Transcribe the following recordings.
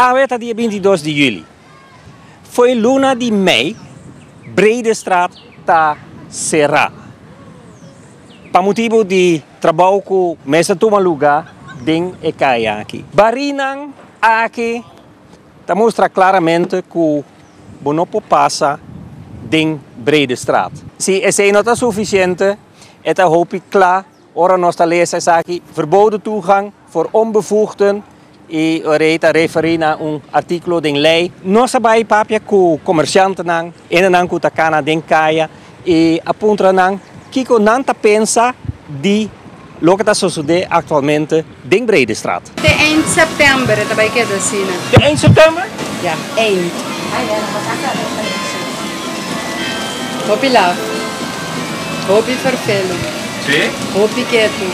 Awe ta dia bintidos di juli. Fo'i luna di mei, Breedestraat ta será pa motibu di trabou ku mester tuma lugá den e kai aki. Barinan aki ta mustra klaramente ku bo no por pasa den Breedestraat. Si esei no ta sufisiente, e ta hopi kla Ora nos ta lesa esaki, Verboden toegang voor onbevoegden, i ora ei ta referí na un artíkulo den lei. Nos a bai papia ku komersjantenan, endenan ku ta kana den kaya, i a puntra nan kiko nan ta pensa di loke ta sosodé aktualmente. den Bredestraat. Te eind september e ta bai keda asina. Te eind september? Ya, eind. Hopi lahu. Hopi ferfelu. Si? Hopi ketu.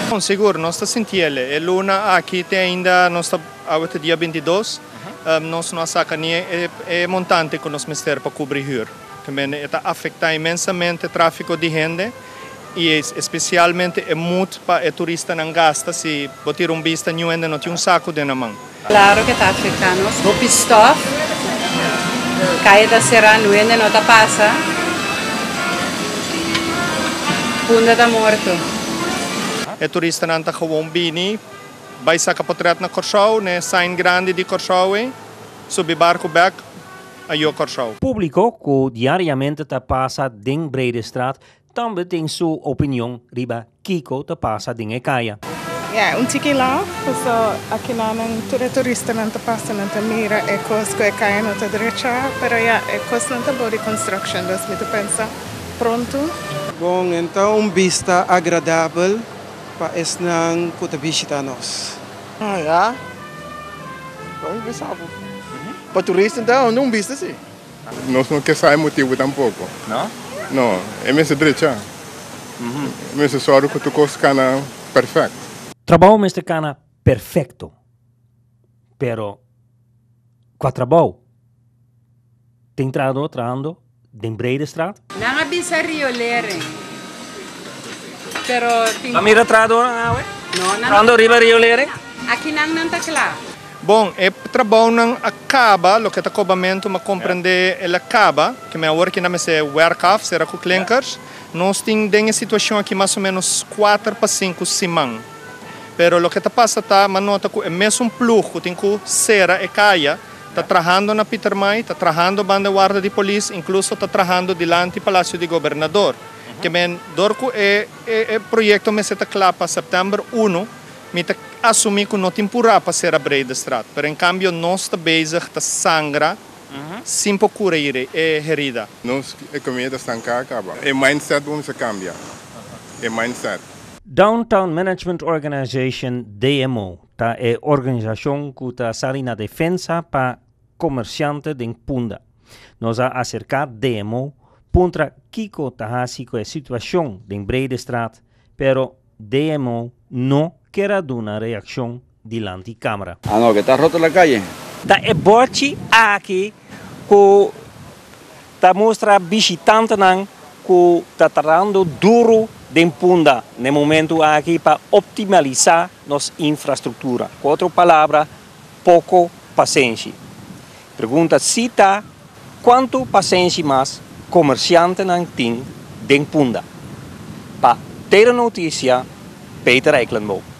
Bon, sigur, nos ta sinti ele. E luna aki te ainda nos ta, awe ta dia bintidos, nos no a saca ni e montante cu nos mester pa cubri huur. Tambe e ta afecta inmensamente trafico di hende. y es especialmente e mut pa e turistanan gasta si bo tira un bista Niu hende no tin un saku den nan man. Claro ke ta afecta nos, hopi stof, calle ta cera nu hende no ta pasa, punda ta morto. E turistanan ta gewoon bini bay saca potret na Corsou, ne sign grandi di Corsou ey, subi barco bek. ajo Kòrsou. Públiko ku diariamente ta pasa den Bredestraat tambe tin su opinion riba kiko ta pasa den e kaya. Yeah, un tiki laf, paso akinanan tur e turistanan ta pasa nan ta mira e kos ku e kaya no ta drechá, pero ya, e kosnan ta bo di construction, dus mi ta pensa pronto. Bon, e ta un bista agradabel pa esnan ku ta bishitá nos. Ah ya. Por mi pensa bo. Pa turista ta hondo un business si. Nos no ke sa e motibu tampoco. No? No, e mester drecha. E mester sorgo ku tur kos kana perfect. Trabou mester kana perfecto. Pero kua trabou? Tin trahador trahando. den Breidestraat. Nan a bisa riolering pero tin. Nan mira trahadonan awe trahando riba riolering? Aki nan nan ta kla. Bon, e trabounan a kaba, loke ta kobamentu m'ha komprendé el a kaba, ke mi awor kina mester wèrk af, sera ku klinkers. Nos tin den e situashon aki mas o ménos kuater pa sinku siman. Pero loke ta pasa ta, m'ha nota ku e mesun plug ku tin ku sera e kaya, Ta trahando na Pietermaai, ta trahando banda e warda di polis, inkluso ta trahando dilanti Palasio di Gobernador. Ke men, dor ku e e proyekto mester ta kla pa sèptèmber unu, mi ta asumí ku no tin purá pa sera Bredestraat, pero en kambio nos ta bezig ta sangra sin por kura e herida. Nos ekonomia ta stanká a kaba. E mindset bo mester kambia. E mindset. Downtown Management Organization, DMO, Ta e organisacion cu ta sali na defensa pa comerciante den Punda. Nos a acerca demo puntra kico ta haci cu e situacion den Bredestraat, pero demo no ker a duna reaccion dilanti camera. Anoke ta roto la calle. Ta e bòrchi aki cu ta mustra bishitantenan cu ta tratando duro den punda n'e momento aki pa optimaliza nos infrastructura. Cu otro palabra, poco pasenshi. Pregunta si ta, cuanto pasenshi mas comerciantenan tin den punda? Pa Taylor Noticia, Peter Eikelenboom.